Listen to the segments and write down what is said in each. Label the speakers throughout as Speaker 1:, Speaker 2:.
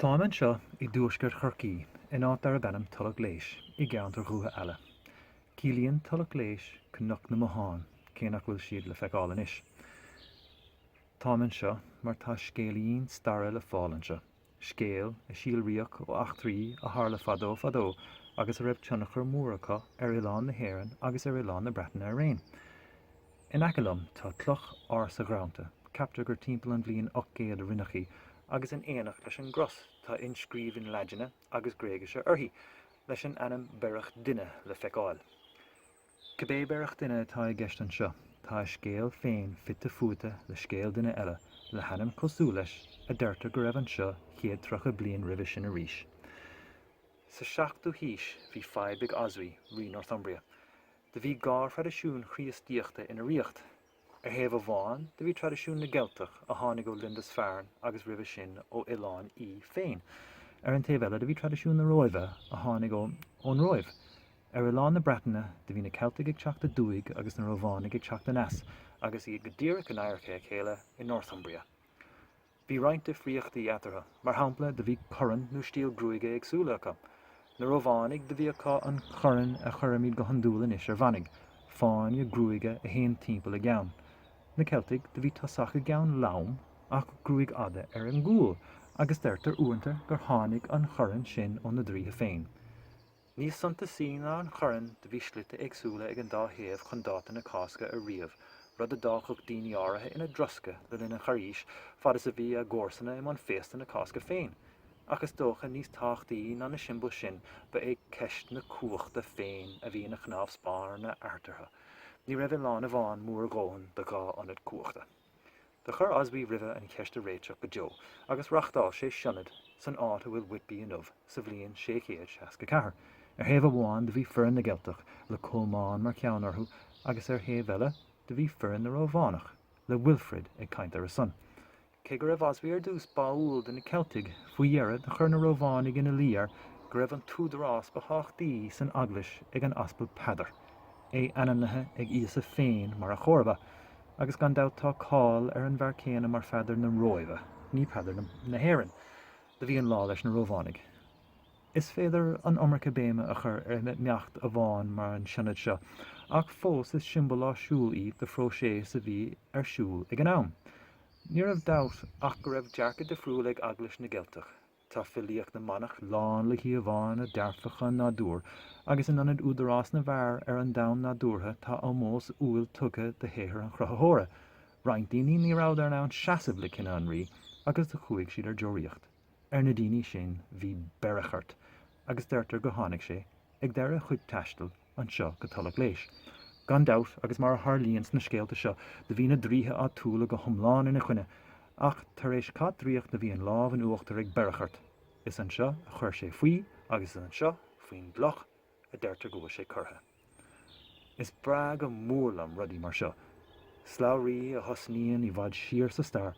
Speaker 1: Táim anseo i dtuaisceart Chorcaí, in áit darb ainm Tulach Léis, i gceantar Dhúiche Eala. Ciallaíonn Tulach Léis Cnoc na mBothán, cé nach bhfuil siad le feiceáil anois. Táim anseo mar tá scéilín staire le fáil anseo, scéal a síolraíodh ó eachtraí a tharla fadó fadó agus a raibh tionchar mór acu ar oileán na hÉireann agus ar oileán na Breataine araon. In aice liom tá cloch ársa ghreanta, ceaptar gur timpeall an bhliain 800 a rinneadh í, agus in éineacht leis an gcros tá inscríbhinn Laidine agus Gréigise uirthi, leis an ainm Berechtuine le feiceáil. Cibé Berechtuine atá i gceist anseo, tá a scéal féin fite fuaite le scéal duine eile le hainm cosúil leis a deirtear go raibh anseo céad tríocha bliain roimhe sin arís. Sa seachtú haois bhí fadhb ag Oswy, rí Northumbria, Do bhí dhá thraidisiún Chríostaíochta ina ríocht. Ar thaobh amháin, do bhí traidisiún na gCeilteach, a tháinig ó Lindisfarne agus roimhe sin ó Oileán Í féin. Ar an taobh eile, do bhí traidisiún na Róimhe, a tháinig ón Róimh. Ar oileán na Breataine, do bhí na Ceiltigh ag teacht aduaidh agus na Rómhánaigh ag teacht aneas, agus iad go díreach in adharca a chéile i Northumbria. Bhí roinnt difríochtaí eatarthu, mar shampla do bhí corann nó stíl gruaige éagsúla acu. Na Rómhánaigh do bhí acu an chorann a chuirimid go hiondúil anois ar mhanaigh, fáinne gruaige a théann timpeall a gceann. Na Ceiltigh do bhí tosach a gceann lom ach gruaig fhada ar an gcúl agus deirtear uaireanta gur tháinig an chorann sin ó na draoithe féin. Níos suntasaí ná an chorann do bhí slite éagsúla ag an dá thaobh chun dáta na Cásca a ríomh, rud a d'fhágfadh daoine áirithe ina dtroscadh le linn an Charghais fad is a bhí a gcomharsana i mbun féasta na Cásca féin. Ach is dócha níos tábhachtaí ná na siombail sin ba é ceist na cumhachta féin a bhí ina chnámh spáirne eatarthu. Ní raibh oileán amháin mór a dhóthain do dhá ionad cumhachta. Do chuir Oswy roimhe an cheist a réiteach go deo agus reachtáil sé sionad san áit a bhfuil Whitby inniu sa bhliain 664. Ar thaobh amháin do bhí foireann na gCeilteach, le Colmán mar cheann orthu, agus ar thaobh eile do bhí foireann na Rómhánach, le Wilfrid ag caint ar a son. Cé go raibh Oswy ar dtús báúil do na Ceiltigh, faoi dheireadh do chuir na Rómhánaigh ina luí air go raibh an t-údarás ba thábhachtaí san eaglais ag an Aspal Peadar. é ainmnithe ag Íosa féin mar a chomharba, agus gan dabht tá cáil ar an bhfear céanna mar Pheadar na Róimhe, ní Peadar na hÉireann. Do bhí an lá leis na Rómhánaigh. Is féidir an iomarca béime a chur ar imeacht amháin mar an Sionad seo, ach fós is siombail áisiúil í do phróiseas a bhí ar siúl ag an am. Ní raibh dabht ach go raibh dearcadh difriúil ag Eaglais na gCeilteach. Tá filíocht na manach lán le híomhánna dearfacha an nádúir agus in ionad údarás na bhfear ar an domhan nádúrtha tá ómós umhal tugtha do shaothar an Chruthaitheora. Roinnt daoine ní rabhadar in ann seasamh le cinneadh an rí agus do chuaigh siad ar deoraíocht. Ar na daoine sin bhí Berichart agus deirtear gur tháinig sé, ag deireadh a chuid taistil, anseo go Tulach Léis. Gan dabht, agus mar a tharlaíonn sna scéalta seo, do bhí na draoithe áitiúla go hiomlán ina choinne, ach tar éis cath draíocht do bhí an lámh in uachtar ag Berichart. Is anseo a chuir sé faoi agus is anseo, faoin gcloch, a deirtear go bhfuil sé curtha. Is breá go mór liom rudaí mar seo, slabhraí a thosnaíonn i bhfad siar sa stair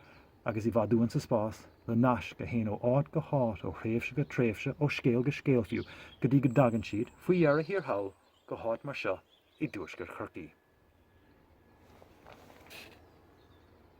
Speaker 1: agus i bhfad uainn sa spás, le naisc a théann ó áit go háit, ó thréimhse go tréimhse, ó scéal go scéal fiú, go dtí go dtagann siad, faoi dheireadh thiar thall, go háit mar seo i dtuaisceart Chorcaí.